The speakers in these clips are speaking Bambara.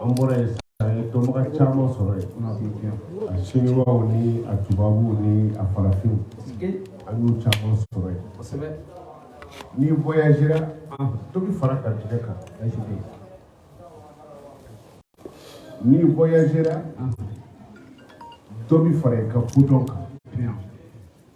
an bɔra ye dɔnbaga caman sɔrɔ yen a siniwaw ni a tubabuw ni a farafinw an y'u caman sɔrɔ yen n'i voyagera dɔ bɛ fara ka tigɛ kan n'i voyagera dɔ bɛ fara i ka kodɔn kan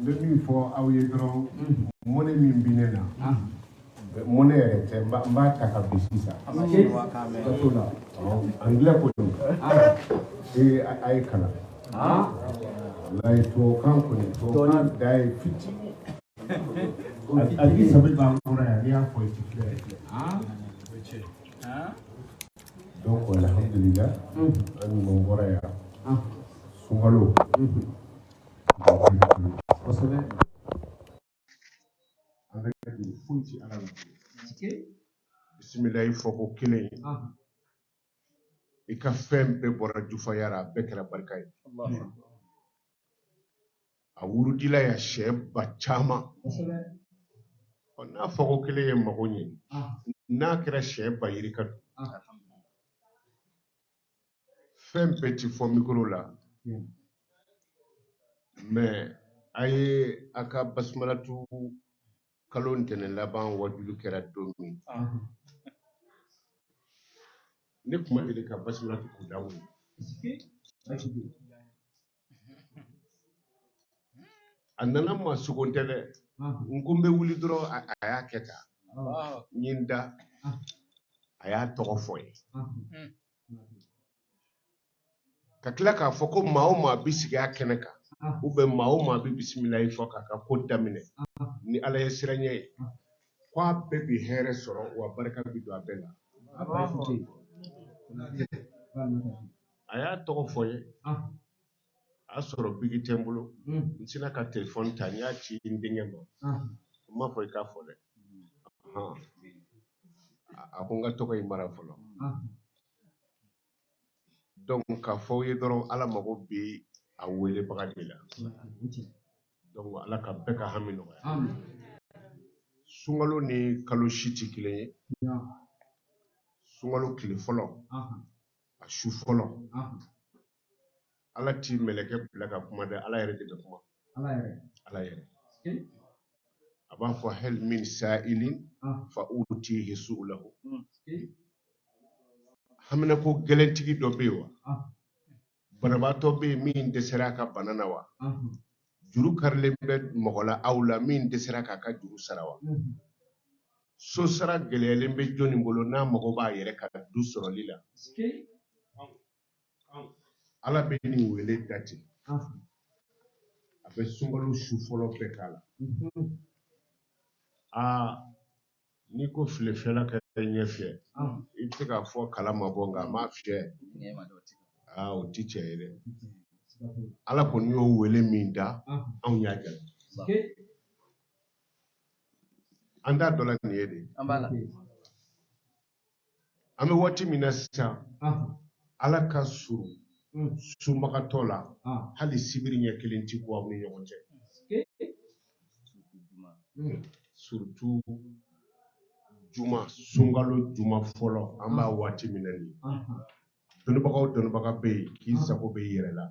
n bɛ min fɔ aw ye dɔrɔn mɔnɛ min bɛ ne na mɔnɛ yɛrɛ tɛ n b'a ta kabi sisan ka to la anglais ko don ee a ye kalan walayi tubabukan kɔni tubabukan da ye fitinin hali sɛbɛn b'an kɔrɔ yan n'i y'a fɔ i ti filɛ donc alhamdulillah an ɲuman bɔra yan sunkalo bisimilayi fɔko kelen ye i ka fɛn bɛɛ bɔra jufaya la a bɛɛ kɛra barika ye a wurudila yan siɲɛ ba caman ɔ n'a fɔko kelen ye mago ɲɛ n'a kɛra siɲɛ ba yirika don fɛn bɛɛ ti fɔ mikoro la hmm. mais a ye a ka basumalatu kalo ntɛnɛn laban wajulu kɛra don min ne kuma deli ka basumalatu kunda o a nana n ma sugo tɛ dɛ n ko n bɛ wuli dɔrɔn a y'a kɛ tan n ye n da a y'a tɔgɔ fɔ n ye ka tila k'a fɔ ko maa o maa bɛ sigi a kɛnɛ kan u bɛ maa o maa bɛ bisimilayi fɔ k'a ka ko daminɛ ni ala ɲɛsiranɲɛ ye ko a bɛɛ bɛ hɛrɛ sɔrɔ wa barika bɛ don a bɛɛ la a y'a tɔgɔ fɔ n ye a y'a sɔrɔ biki tɛ n bolo n sinna ka telefɔni ta n y'a ci n denkɛ ma n m'a fɔ i k'a fɔ dɛ a ko n k'a tɔgɔ in mara fɔlɔ donc k'a fɔ aw ye dɔrɔn ala mago bɛ a welebaga de la donc ala ka bɛɛ ka hami nɔgɔya sunkalo ni kalo si tɛ kelen ye sunkalo tile fɔlɔ a su fɔlɔ ala ti mɛlɛkɛ bila ka kuma dɛ ala yɛrɛ de bɛ kuma ala yɛrɛ a b'a fɔ hal min sa'ilin ah. fa utihi su'lahu hmm. haminanko gɛlɛntigi dɔ bɛ yen wa ah. banabaatɔ bɛ yen min dɛsɛra a ka bana na wa ah. juru karilen bɛ mɔgɔ la aw la min dɛsɛra k'a ka juru sara wa hmm. so sara gɛlɛyalen bɛ jɔni bolo n'a mago b'a yɛrɛ ka du sɔrɔli la ala bɛ nin wele dati a bɛ sunkalo su fɔlɔ bɛɛ k'a la aa n'i ko filefiyɛla k'i ɲɛ fiyɛ i bɛ se k'a fɔ kala ma bɔ nka a m'a fiyɛ aa o ti cɛn ye dɛ ala kɔni y'o wele min da anw y'a kɛ an t'a dɔ la nin ye de an bɛ waati min na sisan ala ka surun hmm. sunbagatɔ la hali sibiri ɲɛ kelen tɛ bɔ aw ni ɲɔgɔn cɛ hmm. surtout juma sunkalo juma fɔlɔ an b'a waati min na nin dɔnnibagaw dɔnnibaga bɛ yen k'i sago b'i yɛrɛ la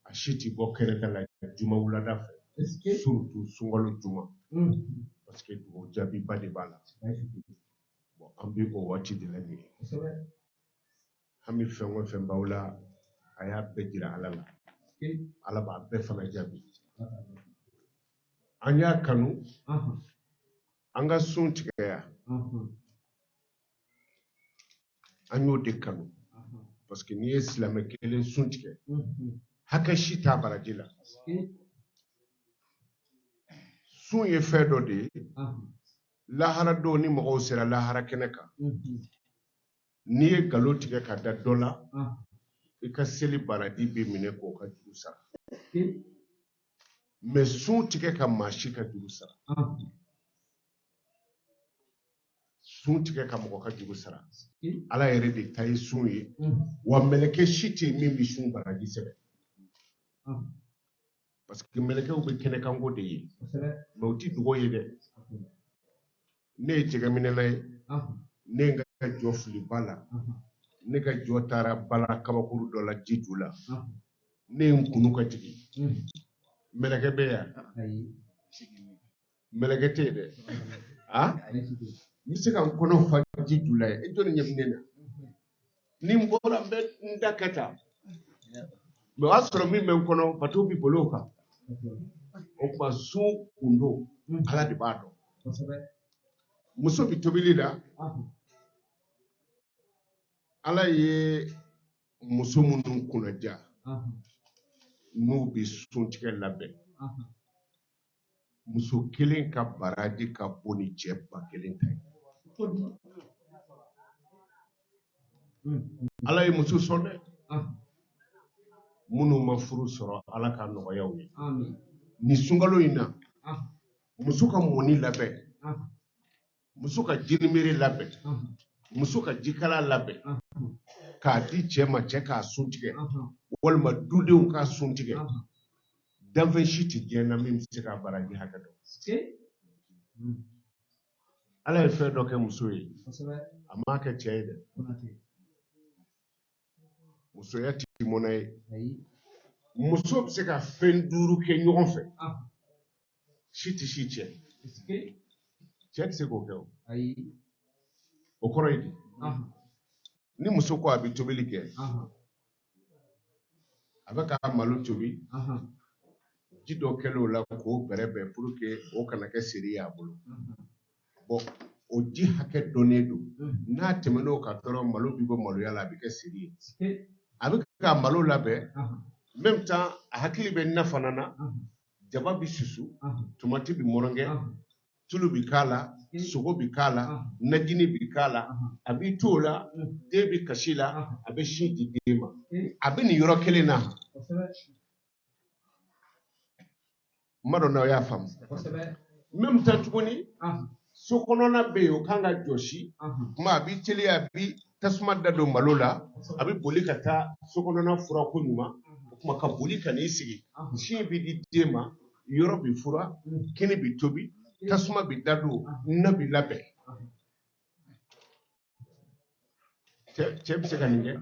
a si tɛ bɔ kɛnɛ ka la juma wulada fɛ surtout sunkalo juma hmm. parce que dugawu jaabiba de b'a la bon an bɛ o waati de la nin ye hami fɛn o fɛn b'aw la a y'a bɛɛ jira ala la ala b'a bɛɛ fana jaabi an y'a kanu an ka sun tigɛ yan an y'o de kanu parce que n'i ye silamɛ kelen sun tigɛ hakɛ si t'a baraji la sun ye fɛn dɔ de ye lahara don ni mɔgɔw sera lahara kɛnɛ kan n'i ye nkalon tigɛ ka da dɔ la i ka seli baraji bɛ minɛ k'o ka juru sara mais sun ti kɛ ka maa si ka juru sara sun ti kɛ ka mɔgɔ ka juru sara ala yɛrɛ de ta ye sun ye wa mɛlɛkɛ si tɛ min bɛ sun baraji sɛbɛn parce que mɛlɛkɛw bɛ kɛnɛkanko de ye mais u ti dogo ye dɛ ne ye jɛgɛminɛla ye ne ye n ka jɔ fili ba la ne ka jɔ taara bala kabakuru dɔ la ji ju la ne ye n kunu ka jigin mɛlɛkɛ bɛ yan mɛlɛkɛ tɛ yen dɛ a n bɛ se ka n kɔnɔ fa ji ju la ye e jɔni ɲɛ bɛ ne na ni n bɔra n bɛ n da kɛ tan mais o y'a sɔrɔ min bɛ n kɔnɔ bato bɛ boli o kan o tuma sun gundo ala de b'a dɔn muso bɛ tobili la ala ye muso minnu kunnadiya n'u bɛ sun tigɛ labɛn muso kelen ka baraji ka bon ni cɛ ba kelen ta ye ala ye muso sɔn dɛ minnu ma furu sɔrɔ ala k'a nɔgɔya aw ye nin sunkalo in na muso ka mɔni labɛn muso ka jinimere labɛn muso ka jikalan labɛn k'a di cɛ ma cɛ k'a sun tigɛ walima dudenw k'a sun tigɛ danfɛn si tɛ diɲɛ na min bɛ se k'a baraji hakɛ dɔn ala ye fɛn dɔ kɛ muso ye a m'a kɛ cɛ ye dɛ musoya tɛ mɔnɛ ye muso bɛ se ka fɛn duuru kɛ ɲɔgɔn fɛ si tɛ si cɛn cɛ tɛ se k'o kɛ o o kɔrɔ ye di ni muso ko a bɛ tobili kɛ a bɛ ka malo tobi ji dɔ kɛlen o la k'o bɛrɛbɛn pour que o kana kɛ seri ye a bolo o ji hakɛ dɔnnen don n'a tɛmɛn'o kan dɔrɔn malo bɛ bɔ maloya la a bɛ kɛ seri ye a bɛ ka malo labɛn même temps a hakili bɛ na fana na jaba bɛ susu tomati bɛ mɔrɔngɛ tulu bɛ k'a la sogo bɛ k'a la najini bɛ k'a la a b'i to o la den bɛ kasi la a bɛ sin di den ma a bɛ nin yɔrɔ kelen na n m'a dɔn n'aw y'a faamu même temps tuguni so kɔnɔna bɛ yen o kan ka jɔsi kuma a b'i teliya a bi tasuma da don malo la a bɛ boli ka taa so kɔnɔna furan koɲuman o kuma ka boli ka n'i sigi sin bɛ di den ma yɔrɔ bɛ furan kini bɛ tobi tasuma bɛ da don na bɛ labɛn cɛ bɛ se ka nin kɛ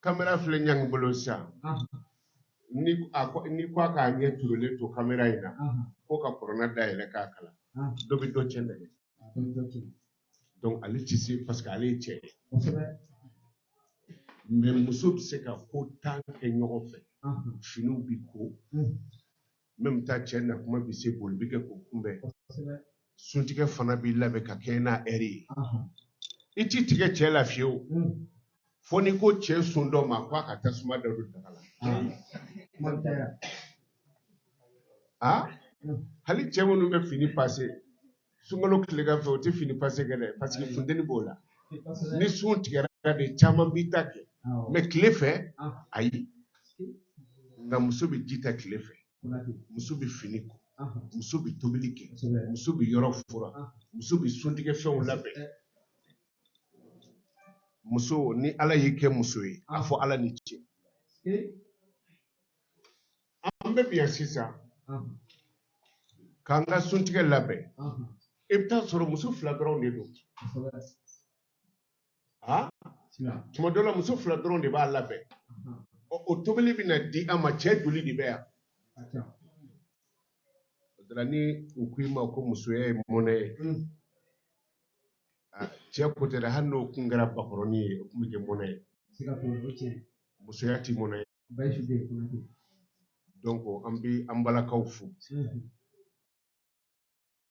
kamera filɛ ɲangi bolo sisan n'i ko a k'a ɲɛ turulen to kamera in na ko ka kuranɛ dayɛlɛ k'a kalan dɔ bɛ dɔ cɛn dɛ donc ale tɛ se parce que ale ye cɛ ye mais muso bɛ se ka ko tan kɛ ɲɔgɔn fɛ finiw bɛ ko même temps cɛ na kuma bɛ se boli bɛ kɛ k'o kunbɛn suntigɛ fana bɛ labɛn ka kɛɲɛ n'a heure ye i t'i tigɛ cɛ la fiyew hmm. fo n'i ko cɛ sun dɔ ma k'a ka tasuma da don daga la ah. a hmm. hali cɛ minnu bɛ fini pase sunkalo tilegan fɛ u tɛ fini pase kɛ dɛ parce que funteni b'o la ni sun tigɛra de caman b'i ta kɛ mais tile fɛ ayi nka muso bɛ ji ta tile fɛ muso bɛ fini ko muso bɛ tobili kɛ muso bɛ yɔrɔ furan muso bɛ suntigɛ fɛnw labɛn muso ni ala y'i kɛ muso ye a fɔ ala ni ce an bɛɛ bɛ yan sisan k'an ka suntigɛ labɛn i bɛ taa sɔrɔ muso fila dɔrɔn de don tuma dɔ la muso fila dɔrɔn de b'a labɛn o tobili bɛ na di an ma cɛ joli de bɛ yan o de la ni u ko i ma ko musoya ye mɔnɛ ye mm. ah, cɛ ko tɛ dɛ hali n'o kun kɛra bakɔrɔni ye o tun bɛ kɛ mɔnɛ ye musoya tɛ mɔnɛ ye Bayisu de ye Konate. Donc an bi an balakaw fo.